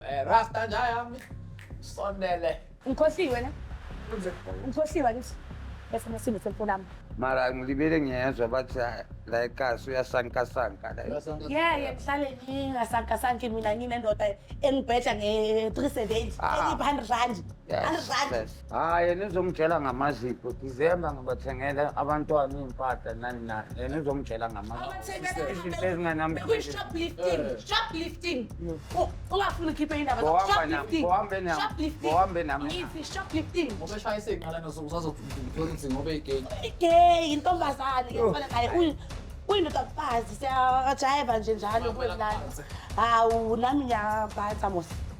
Eh, Rasta nja yami. Sondele. Ngikhohliwe ne? Ngikhohliwe ngithi. Bese nesimo selfoni yami. Mara ngilibele ngiyezwa bathi ah, la ekhasi uyasankasanka la. Ngeke ngihlale ngingasankasanki mina nginendoda engibhedla nge-370 Ah. engipha 100 rand. Yes, 100 rand. yes. hayi yena uzomtshela ngamazipho december ngibathengela abantwana iy'mpahla nani nani yena uzomtshela ngamazipho ezinganamsebenzi shoplifting Oh, ungafuni ukhiphe indaba Bohamba nam- bohambe nam- bohambe nam- shoplifting Ubeshaya isinqala nosukusazokuthula ukuthi ngoba igay. igay yintombazane ke fana naye uyi- uyindoda kufazi siyajayeva nje njalo kwelala hawu nami ngiyabhatha mos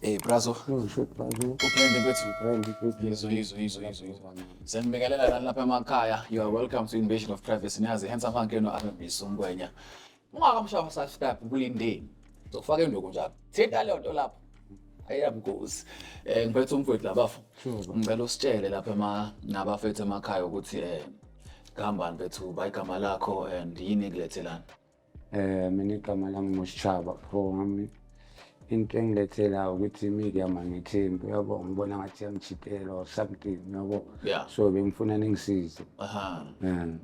Hey brazo. Ngisho brazo. Uphende kwethu. Uphende kwethu. Yizo yizo yizo yizo yizo. Siyanibingelela lani lapha emakhaya. You are welcome to Invasion of Privacy. Niyazi handsome hanke no Ababhiso Ngwenya. Ungakamshaya subscribe kulindeni. Zofaka induku njalo. Thinta leyo nto lapho. Ayamgozi. Eh ngiphethe umfowethu labafo. Ngicela usitshele lapha ema nabafethu emakhaya ukuthi eh ngihambani bethu bayigama lakho and yini ekulethelana. Eh mina igama lami nguSchaba bro wami. Into engilethela ukuthi imike amangithembi uyabo ngibona ngathi yangijikela or something uyabo. Yeah. So bengifuna ningisize. Aha. Um,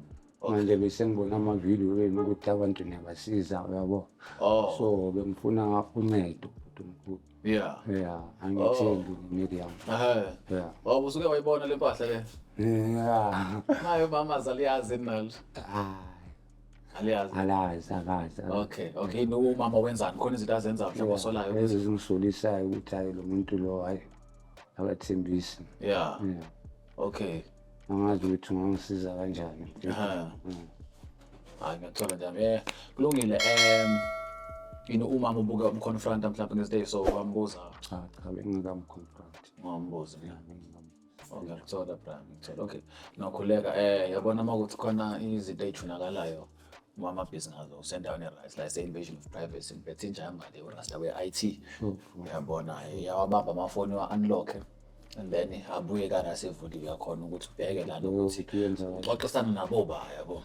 manje besengibona amavidiyo wenu ukuthi abantu niyabasiza uyabo. Oh. So bengifuna uncedo bhuti omkhulu. Yeah. Yeah, angithembi Miriam. Aha. Yeah. Wawusuke Oh. usuke wayibona le mpahla le. Yeah. Nayo mama zaliyazi nalo. Ah. Aliyazi. Alazi akazi. Okay, okay. No umama wenzani? Khona izinto azenza mhlawumbe osolayo. Lezi zimsulisayo ukuthi hayi lo muntu lo hayi akathembisi. Yeah. Yeah. Okay. Angazi ukuthi ungangisiza kanjani. Ha. Mm. Hayi ngiyathola nje. Eh, kulungile. Um yini uma mubuka umconfronta mhlawumbe ngeziday so wambuza Cha cha bengingamuconfront. wambuza. Yeah, bengingamu- Oh, ngiyakuthola bra ngithola okay nokhuleka eh yabona uma ukuthi khona izinto ey'junakalayo uma amabhizinisi ngazo usendaweni e-right la ise-invasion of privacy ngiphethe injamba le urasta we-i t uyabona yawabamba amafoni wa-unlocke and then abuye kana sevuliwe yakhona ukuthi ubheke lana ukuthi uxoxisana nabo ba yabo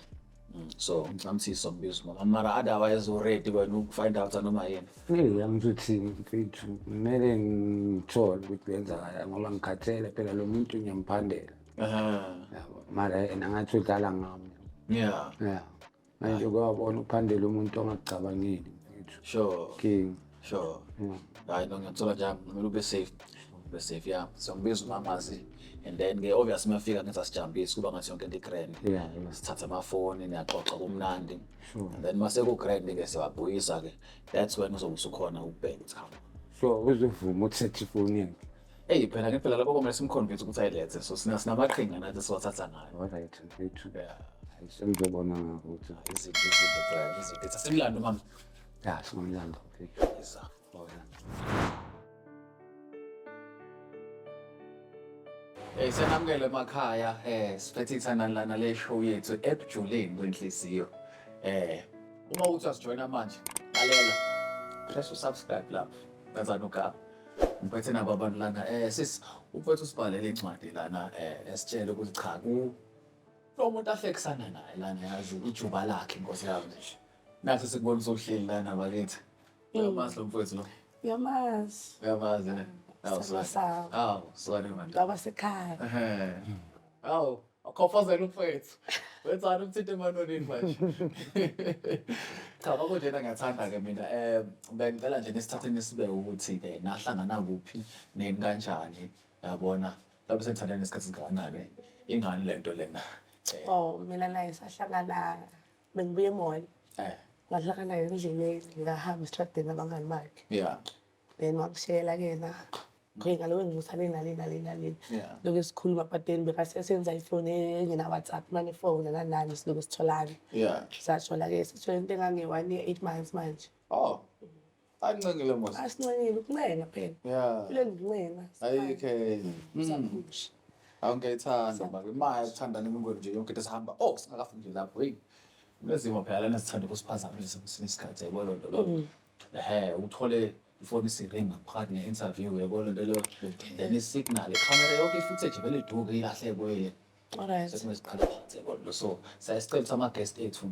Mm, so ngicela ukuthi sombizo mama mara otherwise already wena ukufind out noma yini Hey, angizothi mfethu kumele ngithole ukuthi kwenzakala ngoba ngikhathele phela lo muntu ngiyamphandela aha yabo mara yena ngathi udlala ngami yeah ya manje kwabona ukuphandela umuntu ongacabangeli mfethu sure king sure mm. hayi no ngiyathola nje kumele ube safe ube safe ya so ngibiza umamazi and then ke obvious mafika ngenza sijambisi kuba ngathi yonke into igrand yeah, yeah. sithatha amafoni niyaxoxa kumnandi sure. and then mase kugrand ke siyabuyisa ke that's when uzobe usukhona ukubheka cha so uzovuma ukuthatha ifoni yakhe Hey phela ke phela lapho komele simconvince ukuthi ayilethe so sina sinamaqhinga nathi siwathatha ngayo. All right, mfethu. Yeah. Ayisengizobona ngakho ukuthi izinto izinto izinto. Sengilanda mama. Ya şu oyundan da. Güzel. Oyundan. Eh senamukele emakhaya eh siphethe ithandana lana le show yethu ebujuleni kwenhliziyo. Eh uma uthi asijoyina manje lalela press usubscribe lapho ngazana ugaba. Ngiphethe nabo abantu lana eh sis uphethe usibhalele incwadi lana eh esitshele ukuthi cha ku lo muntu ahlekisana naye lana yazi ijuba lakhe inkosi yami nje. Nathi sikubona usuhleli lana bakithi. Mm. Uyamazi lo mfowethu lo? Uyamazi. Uyamazi ne? Awu sorry. Awu sorry man. Baba sekhaya. Awu akhofozela umfowethu. Wenzani umthinta emanonini manje? Cha babo njena ngiyathanda ke mina. Eh bengicela nje nesithathe nisibe ukuthi ke nahlangana kuphi neni kanjani yabona. Lapho sengithanda nesikhathi kangakanani ingane lento lena. Oh mina naye sahlangana bengibuye emall eh ngadlaka naye endleleni ngahamba esitradeni abangani bakhe yeah then wangishela kena ngiye ngaloku engimusa le nale nale nale yeah lokhu esikhuluma but then bekasesenza ifoni engena-whatsapp mane ifoni nanani silokhu sitholane yeah sathola-ke sithole into engange-one year eight months manje oh Ancengile mos. Asincengile ukuncenga phela. Yeah. Kuleli kuncenga. Ayikho enye. Sakusho. Hawu ngiyayithanda manje. Imaya ukuthanda nemingweni nje yonke into sihamba. Oh singakafiki nje lapho. Hey. Kunezimo phela lana sithanda ukusiphazamisa kwesinye isikhathi yabo lo nto lo. Mm. Ehhe uthole ifoni isiringi ngaphakathi ne-interview yabo lo nto lo. Then isignal ikhamera yonke i-footage vele iduke ilahlekwe. Alright. Sesingesiqala phansi yabo lo. So siyasicela ukuthi ama-guest ethu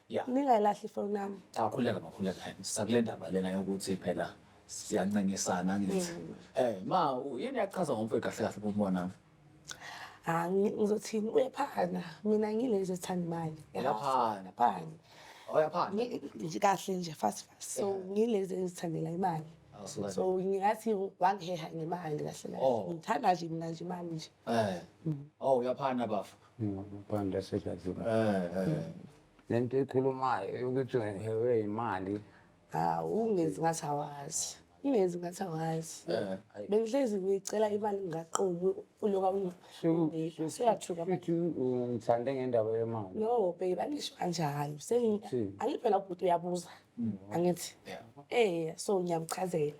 Yeah. Ningayilahli ifoni yami. Cha khuleka makhuleka. Sakule ndaba lena yokuthi phela siyancengisana ngithi. Eh ma u- yini yakuchaza ngomfowethu kahle kahle kumona? Ah, ngi- ngizothini uyaphana. Mina ngilezi ezithanda imali. Uyaphana. Uyaphana. Oyaphana. Ngi- ngi- kahle nje fast fast so ngilezi engizithandela imali Awusuka- so ngingathi wangiheha ngemali kahle kahle Oh. ngithanda nje mina nje imali nje Eh. Oh uyaphana bafo. Ngaphandle sejazile. Eh eh. Lento ekhulumayo yokuthi ngihewe imali. Hawu ungezi ngathi awazi. Ungezi ngathi awazi. Bengihlezi ngicela imali ngaqomi uloka ungipha. Seyathuka. Futhi ngithande ngendaba yemali. No babe angisho kanjalo. Sengi angiphela ubhuti uyabuza. Angithi. Eh so ngiyamchazela.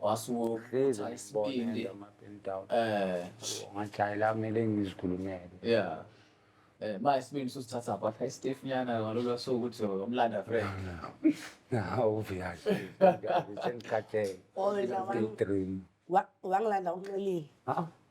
wasukuhlezi isibindi eh ngajayela kumele ngizikhulumele yeah eh ma isibindi susithatha kwakha istiff nyana ngalolu suku ukuthi umlanda friend hawu viyazi ngikhathele dream wangilanda unxelile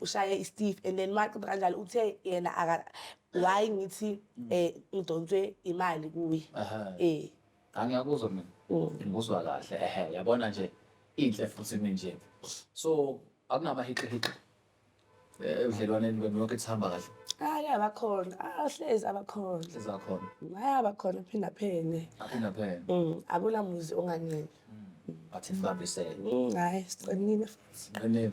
ushaye iSteve and then maqeda kanjalo uthe yena aka why ngithi eh ngidonswe imali kuye Aha. eh angiyakuzwa mina Mm. ngikuzwa kahle ehe yabona nje inhle futhi mina nje so akunamahixihixa eh, ebudlelwaneni benu yonke sihamba kahle hayi abakhona ahlezi abakhona sizakhona hayi abakhona phinda phene aphinde phela Mm, akunamuzi onganele but sibambisene Mm, hayi siqinile futhi nqinile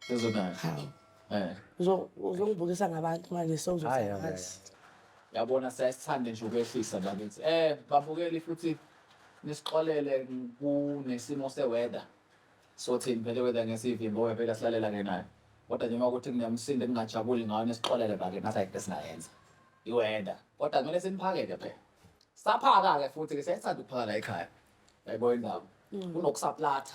Sezodala. Hawu. Eh. Uzo- Uzongibukisa ngabantu manje Hhayi, hhayi, hhayi. sewuzosakazi. Yabona siyasithanda nje ukwehlisa la kithi. Eh babukeli futhi nisixolele kunesimo seweather. Sothini phela weather ngesivimbo ngoba phela silalela ke nayo. Kodwa nje uma ukuthi kungemsindo engingajabuli ngayo nisixolele bake ngathi ayikho esingayenza. Iweather. Kodwa kumele siniphakele phela. Saphaka ke futhi ke siyasithanda ukuphaka la ekhaya. Yayibona indaba. Kunokusaplatha.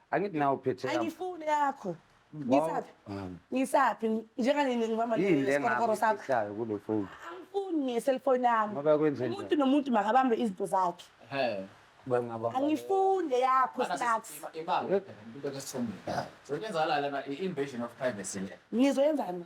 Angithi nawe uphethe yami. Angifuni yakho. Ngisaphi? Ngisaphi? Njenganini ngibamba Yini le ngesikoro sakho? ngakufihlayo kule foni? Angifuni ngeselfoni yami. Ngoba kwenze njani? Umuntu nomuntu makabambe izinto zakhe. Ehe. Bangaba. Angifuni yakho snacks. Ibanga into esithomile. Sokwenzakalala na invasion of privacy le. Ngizoyenzani?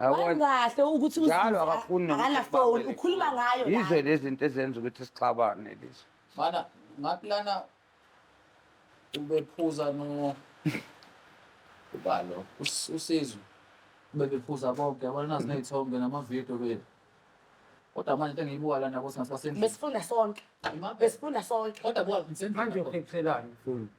Yabona? Wangahle ukuthi Njalo uZiza akafuni nokuthi akanafoni sibambele ukhuluma kuyo. ngayo la. yizo lezi zinto ezenza ukuthi sixabane lezi Mana ngathi lana ubephuza no ubalo us- usizwe bebephuza bonke yabona nazi nezithombe namavidiyo bethu kodwa manje into engiyibuka lana kothi ngasibasendlini besifunda sonke Imaphi? besifunda sonke kodwa buka manje ngisendlini uphephelani mfundi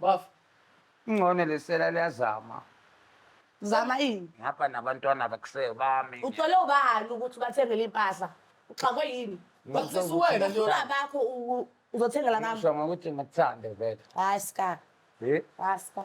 Bafo. Ingcono lesela liyazama. Zama ini? Ngapha nabantwana bakusele bami. Uthole ubani ukuthi ubathengele impahla? Uxakwe yini? Bakufisa uwena nje. Ufuna bakho u- uzothengela bami. Ngisho ngokuthi ngikuthande vele. Hayi ska. Eh? Hayi ska.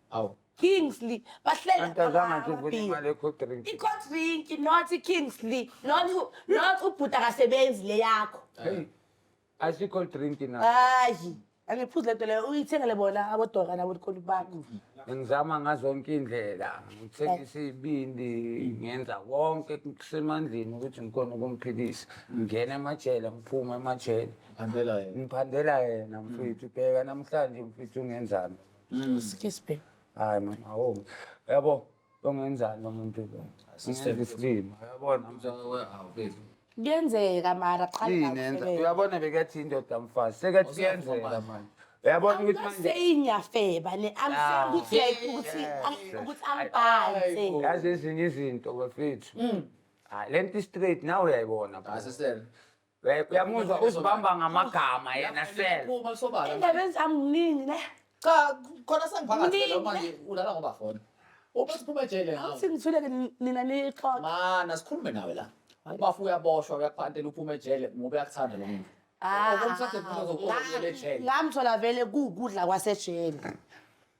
Awu. Kingsley bahlela Antazanga nje uvuna amabhiya. imali ekho drink. I-cold drink not i-kingsley not u- not ubhuti akasebenzi le yakho Hey. Asikho drink na. hayi angiphuzi le nto leyo uyithengele bona abodoka nabolikoni bakho Ngizama ngazonke indlela. Ngithengisa ibindi, ngenza konke kusemandleni ukuthi ngikhona ukumphilisa. Ngingena emajele, ngiphuma emajele. Ngiphandela yena mfethu. Bheka namhlanje mfethu ungenzani. Excuse me. Hayi mama, awu. Yabo, ongenzani umuntu lo? Sister isilima. Yabona Kuyenzeka mara qala yini enza? ngakufebela. Uyabona bekathi indoda mfazi. Sekathi kuyenzeka manje. Uyabona ukuthi manje Seyingiyafeba ne I'm saying ukuthi like ukuthi ang- ukuthi angibhanse. yazi ezinye izinto bafethu. Hayi lento straight nawe uyayibona. bro. Asisele. Eh, uyamuzwa uzibamba ngamagama yena sel Uma sobala. Endabeni zami nginingi ne. Cha khona sengivakazela Mningi. manje ulala ngoba fona. Uma siphuma ejele ngawe. Awuthi ngithuleke ni- nina nixoxe. Mana sikhulume nawe la. Ubafu uyaboshwa uyakuphantela uphuma ejele ngoba uyakuthanda lo muntu. Ah, Okumthathe kuzo kuzo ejele. Ngamthola vele kukudla kwasejele.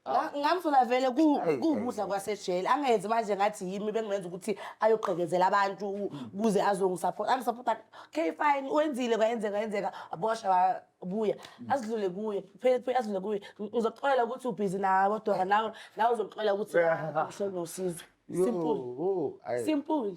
Nga- ngamfuna vele ku- Ayi, kuwukudla ayi. kwasejele angenzi manje ngathi yimi bengimenza ukuthi ayogqekezela abantu u- kuze azongisapota angisapota okay fine wenzile kwayenzeka yenzeka abosha wabuya azidlule kuye phele phele azidlule kuye Ng- ngizokuxolela ukuthi ubhizi nabo dora nawe nawe uzokuxolela ukuthi uhleli nosizo simple Yo, ayi. simple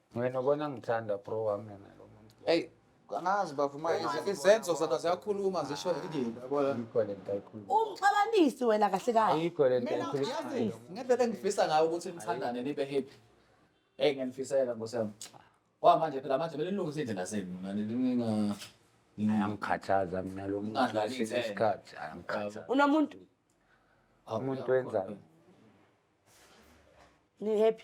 Wena ubona ngithanda bro wami mina lo muntu. Hey, angazi bafo manje izi- izenzo zona ziyakhuluma zisho indini yabona. Ayikho le nto ayikhuluma. Umxabanisi wena kahle kahle. Ayikho le nto Mina ayikhuluma. ngiyazi ngendlela engifisa ngayo ukuthi nithandane nibe happy. Hey ngiyanifisela Nkosi yami. Wa manje phela manje kumele nilungise indlela zenu mina ninga Ayangikhathaza mina lo muntu Ungadlali kwesinye ithemba. isikhathi ayangikhathaza. Unomuntu Umuntu wenzani? ni happy.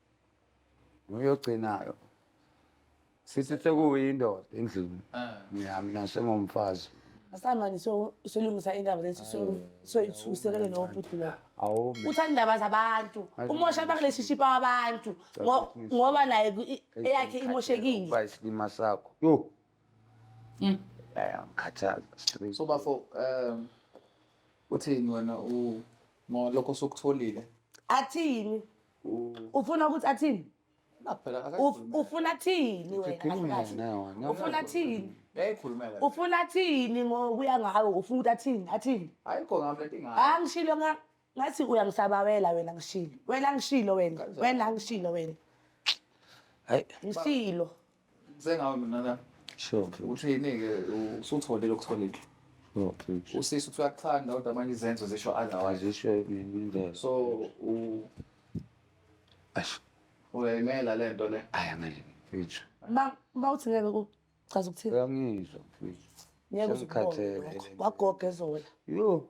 noyogcinayo sithi sekuyindoda endlini mina mina sengomfazi asamani so solungisa indaba lesi so so ithusekele no bhuti lo awu uthanda indaba zabantu umosha bakuleshishipa wabantu ngo- ngoba naye ku- i- eyakhe imoshekile Uba isilima sakho yo Mm. ayangikhathaza straight so bafo um uthini wena u ngolokho osukutholile athini ufuna ukuthi athini ufuna thini wena ufuna thini ufuna thini ngokuya ngawe ufuna ukuthi athini athini angishilo ngathi uyangisabawela wena ngishilo wena ngishilo wena wena ngishilo wena ngishilo Sengawe mina la. Sure. Uthini-ke usutholile okutholile. Okay. Usisi uthi uyakuthanda kodwa manje izenzo zisho otherwise. Azisho indlela. So u Ash, uyayimela le nto le. ayi angeke mfethu. Ba bawuthi ngeke kuchaza ukuthini? Uyangizwa mfethu. Ngeke uze Sengikhathele. ubone lokho. Wagoga ezola. Yo,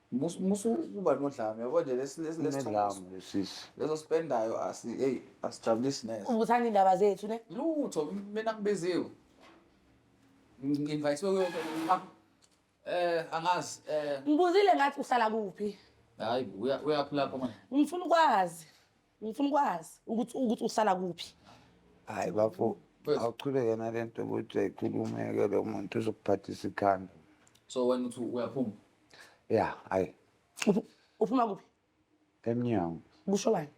Mus- musa ukuba nodlame yabo nje lesi- lesi- lesi- Unedlame lesisi. leso sipendayo asi- eyi, asijabulisi neze Ubuthanda indaba zethu ne? lutho mina ngibiziwe ngi-invayisiwe kuyo yonke into. Ah, eh angazi eh Ngibuzile ngathi uhlala kuphi. hayi uya- uyaphi lapho manje Ngifuna ukwazi. Ngifuna ukwazi ukuthi ukuthi uhlala kuphi. Hayi bafo, awuchubeke nalento ukuthi ayikhulumeke lo muntu uzokuphathisa ikhanda. So wena uthi uyaphuma? Ya, hayi Uphu- Uphuma kuphi? emnyango. Kusho bani?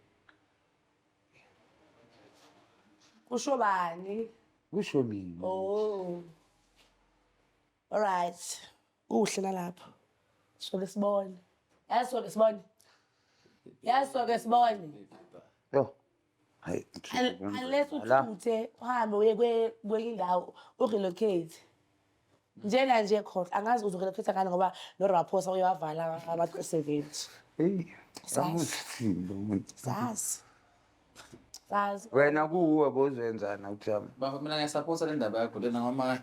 Kusho bani? Kusho mina. Oh. Alright. Kuhle nalapho. Soke sibone. Yazi soke sibone. Yazi soke sibone. Yo. Hayi. Un- Unless uthuthe uhambe uye kwe- kwenye indawo urelocate. Njena nje khona angazi uzorelocate ngani ngoba noRaphosa uyawavala ama-seventy. Hey. Sazi. Amuthini lo muntu. Sazi. Sazi. Wena kuwe bozenzana uthami. Bafo mina ngiyasapota le ndaba yakho lena ngoba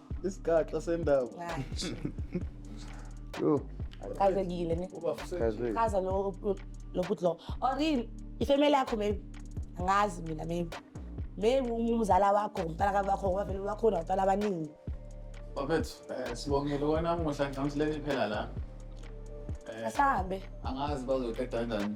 isigaxa sendaba Yo, Kazekile ne. kaze. Kaza lo lo bhuti lo. Or yini ifamily yakho maybe. Angazi mina maybe. Maybe umzala wakho, umntana ka wakho, ngoba vele bakhona abantwana abaningi. bafethu eh, sibongile wena muhla ngidla ngisilele phela la Eh, Asahambe. angazi bazoqeda kanjani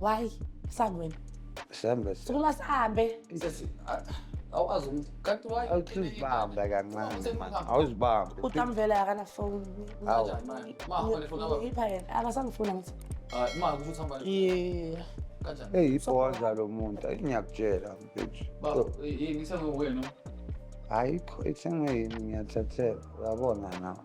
Why? Sani wena. Sihambe. Sukuma sihambe. Sesi awukwazi umuntu. Kanti why? Awuzibamba kancane man. Awuzibamba. Utamvela akana phone. Awu. Ma, hole phone aba. Ipha yena. Akasangifuna ngithi. Ah, ma ukuthi hamba. Yeah. Kanjani? Hey, ibhoza lo muntu. Ngiyakutshela mfethu. Baba, yini sengiwena? Ayikho ithengwe yini ngiyathathela. Uyabona nawe.